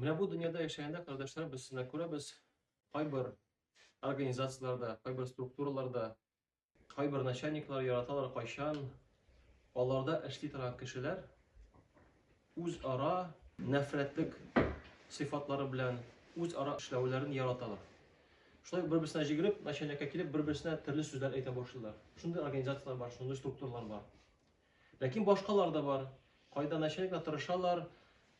Менә бу дөньяда яшәгәндә, кардәшләр, без сына күрәбез, кайбер организацияләрдә, кайбер структураларда, кайбер начальниклар яраталар кайчан, аларда эшли торган кешеләр үз ара нәфрәтлек сыйфатлары белән үз ара эшләүләрен яраталар. Шулай бер-берсенә җигреп, начальникка килеп, бер-берсенә төрле сүзләр әйтә башлыйлар. Шундый организацияләр бар, шундый структуралар бар. Ләкин башкалар да бар. Кайда начальниклар тырышалар,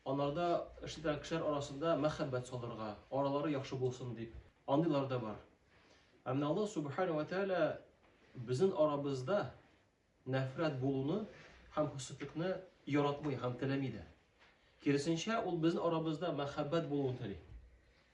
анарда эш итә кешеләр арасында мәхәббәт салырга, аралары яхшы булсын дип. Андыйлар да бар. Ә менә Аллаһ Субхана ва Тәгалә безнең арабызда нәфрәт булуны һәм хөсетлекне яратмый һәм теләми дә. Киресенчә, ул безнең арабызда мәхәббәт булуын тели.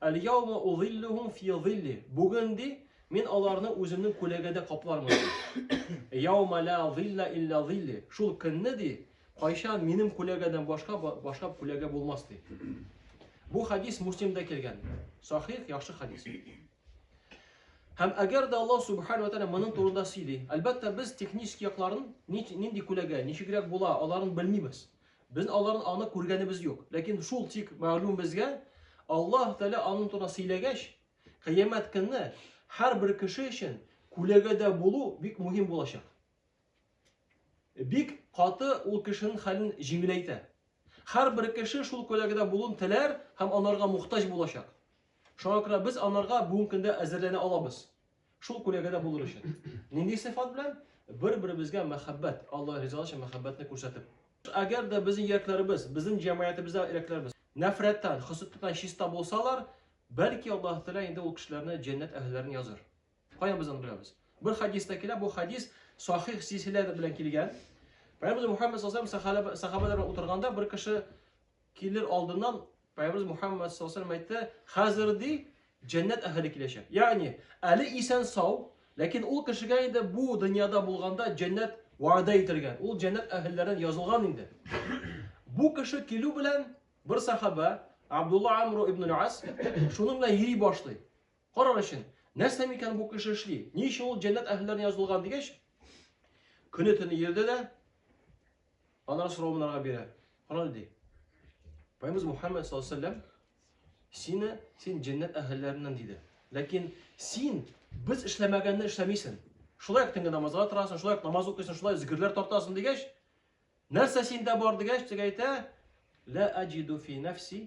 Аль-яума узиллюхум фи зилли. Бүген ди, мин аларны үземнең күләгәдә каплармын. Яума ла зилла илля зилли. Шул көнне ди, кайчан минем күләгәдән башка башка күләгә булмас ди. Бу хадис Муслимда килгән. Сахих, яхшы хадис. Һәм әгәр дә Аллаһ субхану тәгалә моның турында сөйли, әлбәттә без технический якларын нинди күләгә, ничегрәк була, аларын белмибез. Без аларын аны күргәнебез юк. Ләкин шул тик мәгълүм безгә, Аллаһ Тәгалә аның турында сөйләгәч, кыямәт көнне һәрбер кеше өчен күләгәдә булу бик мөһим булачак. Бик каты ул кешенең хәлен җиңеләйтә. Һәрбер кеше шул күләгәдә булуын теләр һәм анарга мохтаҗ булачак. Шуңа күрә без анарга бүгенге көндә әзерләнә алабыз. Шул күләгәдә булыр өчен. Нинди сыйфат белән? Бер-беребезгә мәхәббәт, Алла ризалыгы өчен мәхәббәтне күрсәтеп. Әгәр дә безнең йөрәкләребез, безнең җәмгыятебездә йөрәкләребез нәфрәттән, хөсеттән чиста булсалар, бәлки Аллаһ Тәгалә инде ул кешеләрне җәннәт әһелләрен языр. Каян без аны беләбез? Бер хадиста килә, бу хадис сахих силсилә белән килгән. Пәйгамбер Мухаммед саллаллаху алейһи ва сәхәбәләр утырганда бер кеше килер алдыннан Пайгамбарыбыз Мухаммад саллаллаху алейһи әйтте, хәзер ди җәннәт әһеле киләчәк. Ягъни, әле исән сау, ләкин ул кешегә инде бу дөньяда булганда җәннәт вәгъдә ителгән. Ул җәннәт әһелләрен язылган инде. Бу кеше килү белән бер сахаба Абдулла Амру ибн Ас шуның белән йөри башлый. Карар өчен, нәрсә микән бу кеше эшли? Ни өчен ул җәннәт әһелләрен язылган дигәч, көне төне йөрде дә, Аннан сорау монарга бирә. Карале ди. Пайгамбарыбыз Мухаммад саллаллаһу алейһи вәсәлләм сине син җәннәт әһелләреннән диде. Ләкин син без эшләмәгәнне эшләмисең. Шулай төнге намазга торасың, шулай намаз укыйсың, шулай зикерләр тартасың дигәч, нәрсә синдә бар дигәч, дип әйтә, ла аҗиду фи нафси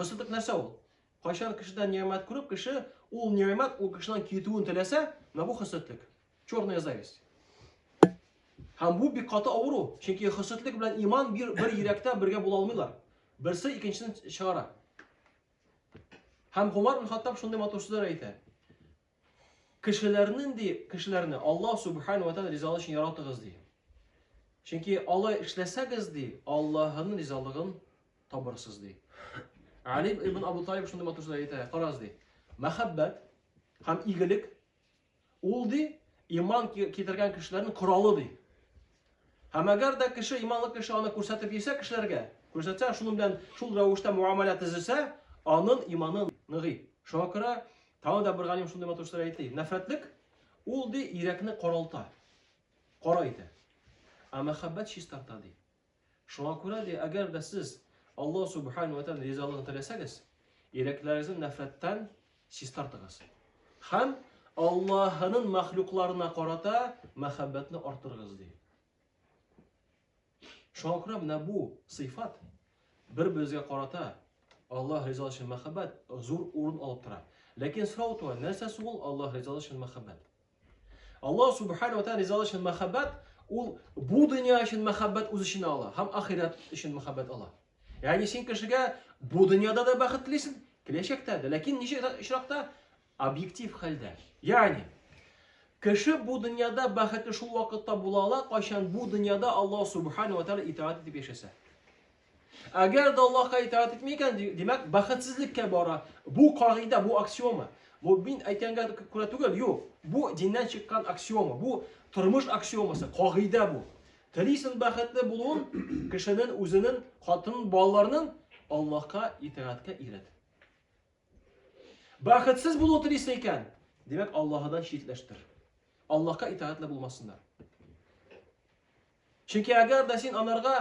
Кысылдык нәрсә ул? Кайчан кешедән ниямәт күреп, кеше ул ниямәт ул кешедән китүен теләсә, менә бу хөсетлек. Черная зависть. Һәм бу бик каты авыру, чөнки хөсетлек белән иман бер, бер йөрәктә бергә була алмыйлар. Берсе икенчесен чыгара. Һәм Гомар бин Хаттаб шундый матур сүзләр әйтә. Кешеләрнен ди, кешеләрне Аллаһ Субхану ва Тааля ризалыгы өчен яратыгыз ди. Чөнки алай эшләсәгез ди, Аллаһның ризалыгын табырсыз ди. Алим ибн Абу Талиб шундый матур сүз әйтә, карагыз ди. Мәхәббәт һәм игелек ул ди иман китергән кешеләрнең коралы ди. Һәм әгәр дә кеше, иманлы кеше аны күрсәтеп йөрсә кешеләргә, күрсәтсә, шуның белән шул рәвештә муамәлә төзесә, аның иманы ныгый. Шуңа күрә тагы да бер галим шундый матур сүзләр әйтте. Нәфрәтлек ул ди йөрәкне каралта, кара итә. Ә мәхәббәт чистарта ди. Шуңа күрә ди, әгәр дә сез Аллаһ субхану ва тааля ризалыгын теләсәгез, йөрәкләрегезне нәфрәттән Чистартыгыз. Хәм Аллаһының мәхлукларына карата мәхәббәтне артырыгыз ди. Шуңа күрә менә бу сыйфат бер-беребезгә карата Аллаһ ризалыгы өчен мәхәббәт зур урын алып тора. Ләкин сорау туа, нәрсәсе ул Аллаһ ризалыгы өчен мәхәббәт? Аллаһ субхана ва тааля ризалыгы өчен мәхәббәт ул бу дөнья өчен мәхәббәт үз эченә ала һәм ахирәт өчен мәхәббәт ала. Ягъни син кешегә бу дөньяда да бәхет телисең, киләчәктә дә, ләкин ничек очракта объектив хәлдә. Ягъни кеше бу дөньяда бәхетле шул вакытта була ала, кайчан бу дөньяда Аллаһ субхана ва тааля итаат итеп яшәсә. Әгәр дә Аллаһка итаат итми икән, димәк, бәхетсезлеккә бара. Бу кагыйдә, бу аксиома. Бу мин әйткәнгә күрә түгел, юк. Бу диннән чыккан аксиома, бу тормыш аксиомасы, кагыйдә бу. Телисен бәхетле булуын, кешенең үзенең, хатын, балаларның Аллаһка итаатка ирет. Бәхетсез булу телисең икән, димәк, Аллаһыдан читләштер. Аллаһка итагатьле булмасыннар. Чөнки әгәр дә син анарга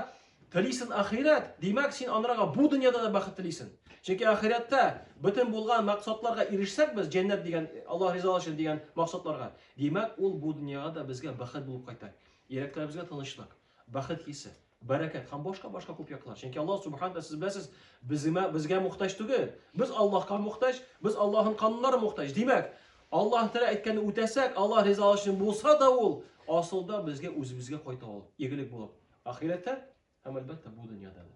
телисең ахирәт, димәк, син анарга бу дөньяда да бәхет телисең. Чөнки ахирәттә бөтен булган максатларга ирешсәк без, җәннәт дигән, Аллаһ ризалыгы өчен дигән максатларга, димәк, ул бу дөньяга да безгә бәхет булып кайта. Йөрәкләребезгә тынычлык. бәхет хисе, бәрәкәт һәм башка-башка күп яклар. Чөнки Аллаһ субхана тәгалә сез беләсез, безгә безгә мохтаҗ түгел. Без Аллаһка мохтаҗ, без Аллаһның кануннары мохтаҗ. Димәк, Аллаһ Тәгалә әйткәнне үтәсәк, Аллаһ ризалыгы өчен булса да ул асылда безгә үзебезгә кайта ул, игелек булып. Ахирәттә һәм әлбәттә бу дөньяда да.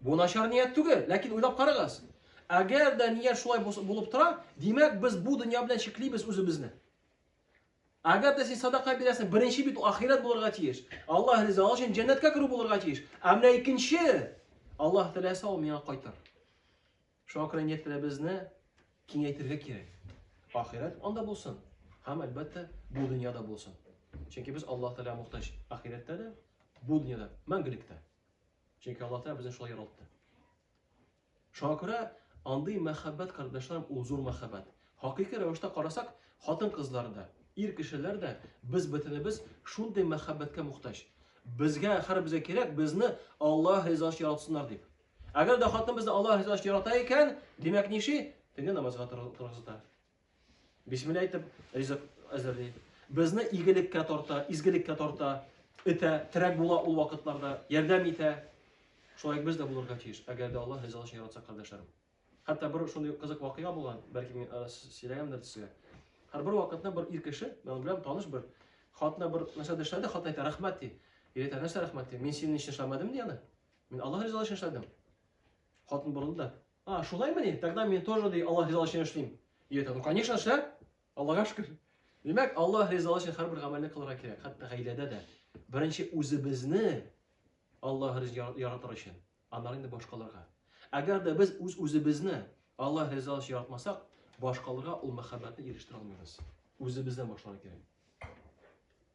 Бу начар ният түгел, ләкин уйлап карагыз. Әгәр дә ният шулай булып тора, димәк без бу дөнья белән чиклибез үзебезне. Әгәр дә син садака бирәсең, беренче бит ахирәт булырга тиеш. Аллаһ риза өчен җәннәткә керү булырга тиеш. Ә менә икенче Аллаһ теләсә ул миңа кайтар. Шуңа күрә ниятләребезне киңәйтергә кирәк. Ахирәт анда булсын. Һәм әлбәттә бу дөньяда булсын. Чөнки без Аллаһ Тәгалә мохтаҗ. Ахирәттә дә, бу дөньяда, мәңгелекдә. Чөнки Аллаһ Тәгалә безне шулай яралты. Шуңа күрә андый мәхәббәт, кардәшләрем, ул зур мәхәббәт. Хакыйкый рәвештә карасак, хатын-кызлар да, ир кешеләр дә без бөтенебез шундый мәхәббәткә мохтаҗ. Безгә һәрбезгә кирәк, безне Аллаһ ризасы яратсыннар дип. Әгәр дә хатын безне Аллаһ ризасы ярата икән, димәк ниши? Теге намазга торгызыта. Бисмилла әйтеп, ризык әзерли. Безне игелеккә тарта, изгелеккә тарта, итә, терәк була ул вакытларда, ярдәм итә. Шулай без дә булырга тиеш, әгәр дә Аллаһ ризалыгы өчен яратса кардәшләрем. Хәтта бер шундый кызык вакыйга булган, бәлки мин э, сөйләгәндер сезгә. Һәр бер вакытта бер ир кеше, мен белән таныш бер, хатына бер нәрсә эшләде, хат әйтә, рәхмәт ди. Ир әйтә, нәрсә рәхмәт ди? Мин синең өчен эшләмәдем ди аны. Мин Аллаһ ризалыгы өчен эшләдем. Хатын борылды да, А, шулаймыни? Тогда мне тоже ди Аллах ризалыгы өчен эшлим. Йөте, ну конечно эшлә. Аллага шөкер. Димәк, Аллах ризалыгы өчен һәрбер гамәлне кылырга кирәк, хәтта гаиләдә дә. Беренче үзебезне Аллах ризалыгы яратыр өчен, аннан инде башкаларга. Әгәр дә без үз үзебезне Аллах ризалыгы өчен яратмасак, башкаларга ул мәхәббәтне ирештерә алмыйбыз. Үзебездән башларга кирәк.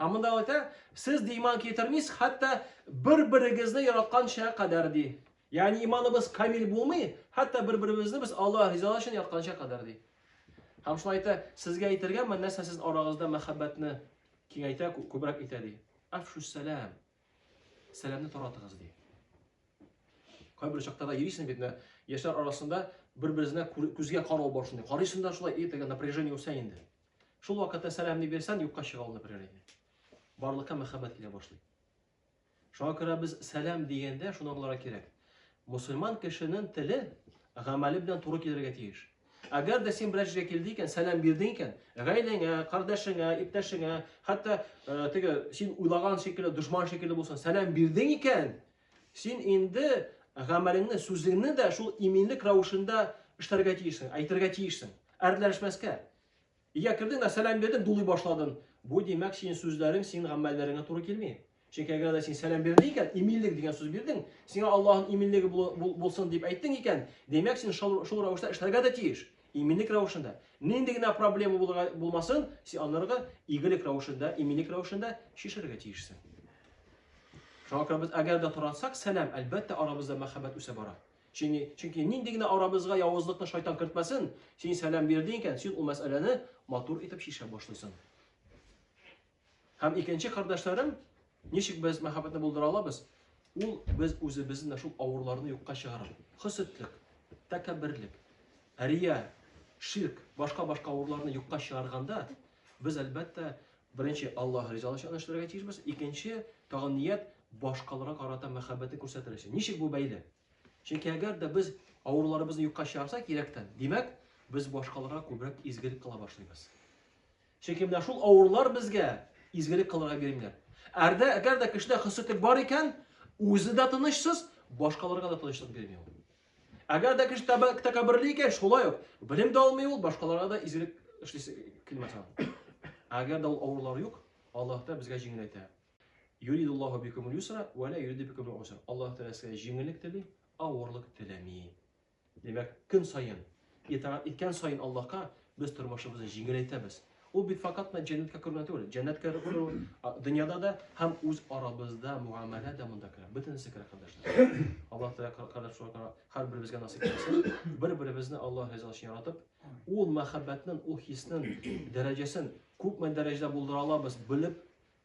Һәм монда ул әйтә, сез ди иман китермисез, хәтта бер-берегезне яратканча кадәр ди. Ягъни иманыбыз камил булмый, хәтта бер-беребезне без Аллаһ ризалыгы өчен яратканча кадәр ди. Һәм шулай әйтә, сезгә әйтергә мен нәрсә сез арагызда мәхәббәтне киңәйтә, күбрәк итә ди. Афшу сәлам. Сәламне таратыгыз ди. Кайбер чакта да йөрисең бит, яшьләр арасында бер-березенә күзгә карау бар шундый. Карыйсың да шулай, и, теге напряжение үсә инде. Шул вакытта сәламне бирсән, юкка чыга ул бер иде. Барлыкка мәхәббәт килә башлый. Шуңа күрә без сәлам дигәндә шуны аңларга кирәк. Мусульман кешенең теле гамәле белән туры килергә тиеш. Әгәр дә син берәр җиргә килде икән, сәлам бирдең икән, гаиләңә, кардәшеңә, иптәшеңә, хәтта э, теге син уйлаган шикелле дошман шикелле булсын, сәлам бирдең икән, Син инде гамәлеңне, сүзеңне дә шул иминлек рәвешендә эшләргә тиешсең, әйтергә тиешсең. Әрләшмәскә. Ия кердең дә сәлам бирдең, дулый башладың. Бу димәк, син сүзләрең, син гамәлләреңә туры килми. Чөнки әгәр дә син сәлам бирдең икән, иминлек дигән сүз бирдең, сиңа Аллаһның иминлеге булсын дип әйттең икән, димәк, син шул, шул рәвештә эшләргә дә тиеш. Иминлек рәвешендә. Нинди генә проблема булмасын, син анырга игелек рәвешендә, иминлек рәвешендә чишәргә тиешсең. Шуңа күрә без әгәр дә тарансак, сәлам, әлбәттә, арабызда мәхәббәт үсә бара. Чөнки, чөнки нинди генә арабызга явызлыкны шайтан кертмәсен, син сәлам бирдең икән, син ул мәсьәләне матур итеп чишә башлыйсың. Һәм икенче кардәшләрем, ничек без мәхәббәтне булдыра алабыз? Ул без үзебезнең шул авырларны юкка чыгарып, хөсетлек, тәкәбберлек, рия, ширк, башка-башка авырларны юкка чыгарганда, без әлбәттә беренче Аллаһ ризалыгы өчен эшләргә тиешбез, икенче тагын ният башкаларга карата мәхәббәтне күрсәтер өчен. Ничек бу бәйле? Чөнки әгәр дә без авырларыбызны юкка чыгарсак, кирәктән, димәк, без башкаларга күбрәк изгелек кыла башлыйбыз. Чөнки менә шул авырлар безгә изгелек кылырга бирелгән. Әрдә, әгәр дә кешедә хөсетлек бар икән, үзе дә тынычсыз, башкаларга да тынычлык бирми ул. Әгәр дә кеше тәкәбберле икән, шулай ук белем дә алмый ул, башкаларга да изгелек эшлисе килмәс аңа. Әгәр дә ул авырлар юк, Аллаһ та безгә җиңеләйтә. Юридуллаһу бикумул юсра ва ла юриду бикумул усра. Аллаһ Тәгалә сезгә җиңеллек тели, авырлык теләми. Димәк, көн саен, итагать иткән саен Аллаһка, без тормышыбызны җиңеләйтәбез. Ул бит факат менә җәннәткә керү генә түгел. Җәннәткә керү дөньяда да һәм үз арабызда муамәлә дә монда керә. Бөтенесе керә, кардәшләр. Аллаһ Тәгалә кардәшләргә һәрберебезгә насыйп итсен. Бер-беребезне Аллаһ ризасы өчен яратып, ул мәхәббәтнең, ул хиснең дәрәҗәсен күпме дәрәҗәдә булдыра алабыз, белеп,